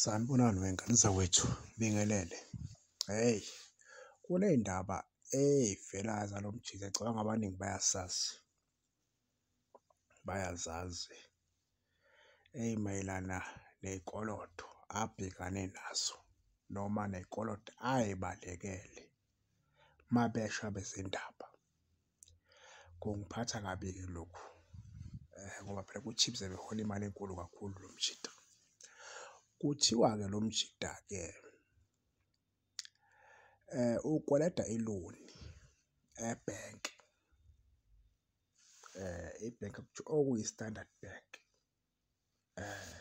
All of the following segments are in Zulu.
Sanibonani wengane zakwethu, ngibingelele. Hheyi, kuney'ndaba ey'vela zalo mjita ngicabanga abaningi bayasazi, bayazazi ey'mayelana ney'koloto abhekane nazo noma ney'koloto ay'balekele uma besha abezindaba. Kungiphatha kabi-ke lokhu eh, ngoba phela ku-Chiefs behola imali enkulu kakhulu lo mjita. Kuthiwa-ke lo mjita-ke eh ukweleta iloni e-bank eh i-bank okuyi-standard bank eh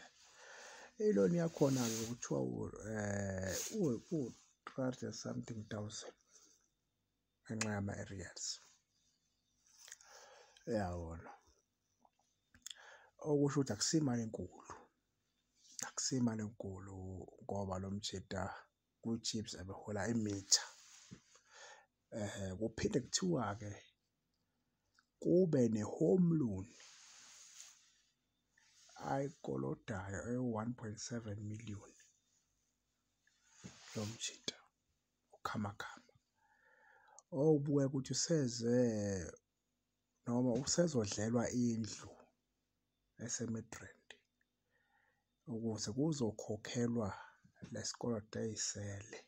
iloni yakhona-ke kuthiwa um eh, u-three hundred something thousand ngenxa yama-aerials uyabona okusho ukuthi akusimali enkulu akusimali enkulu ngoba lo mjita kwi-chips abehola imitha um kuphinde kuthiwa-ke kube ne-home loan ayikolodayo ewu-one point seven million lo mjita uKhamakhama. Owubukeka ukuthi useze noma usezodlelwa indlu eseMidrand ukuze kuzokhokhelwa lesikoloto eyisele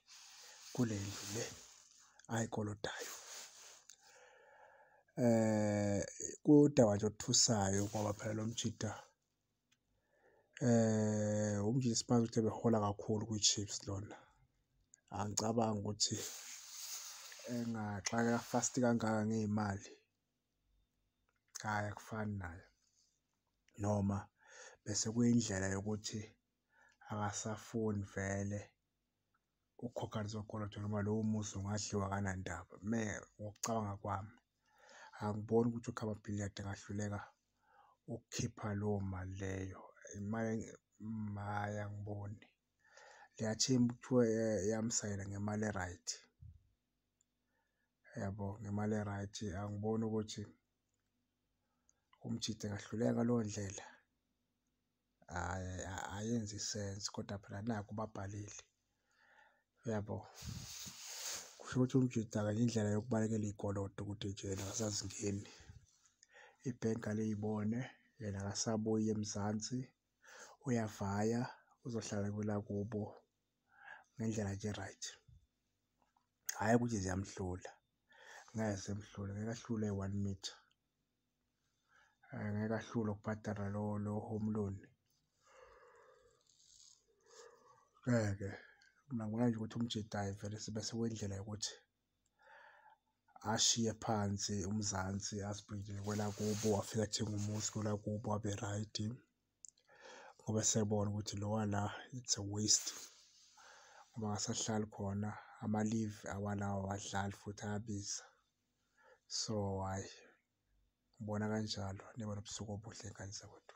kule ndlu le ayikolodayo. Eh, udaba nje othusayo ngoba phela lo mjita eh umjisi manje uthe behola kakhulu kwi-chiefs lona angicabangi ukuthi engaxakeka fast kangaka ngey'mali hhayi akufani nayo noma bese kuyindlela yokuthi akasafuni vele. ukukhokhanisa okoloto noma lowo muzi ungadliwa kanandaba me ngokucabanga kwami angiboni ukuthi ukhaba billiard angahluleka ukukhipha lowo mali leyo imali maye angiboni liyathemba kuthiwa eh, yamsayela ngemali e-right yabo ngemali e-right angiboni ukuthi umjide ngahluleka ngaleyo ndlela ayenzi sense kodwa phela naku babhalile uyabo kusho ukuthi umjita kanye indlela yokubalekela iy'koloto ukuthi ejele akasazingeni ibhenki aliyibone yena akasabuyi emzansi uyavaya uzohlala kwelakubo ngendlela nje right hhayi ukuthi ziyamhlula ngeke zimhlule ngeke ahlule one meter eh, ngeke ahlule ukubhadala lo lo home loan ngeke mina ngibona nje ukuthi umjidayi vele sibe sewendlela yokuthi ashiye phansi uMzansi asibhekele kwelakubo wafika athenga umuzi kwelakubo abe right ngoba sebona ukuthi lowa la it's a waste ngoba akasahlali khona ama-leave awalawo awadlali futhi ayabiza. so hhayi ngibona kanjalo nibe nobusuku obuhle ngane zakwethu.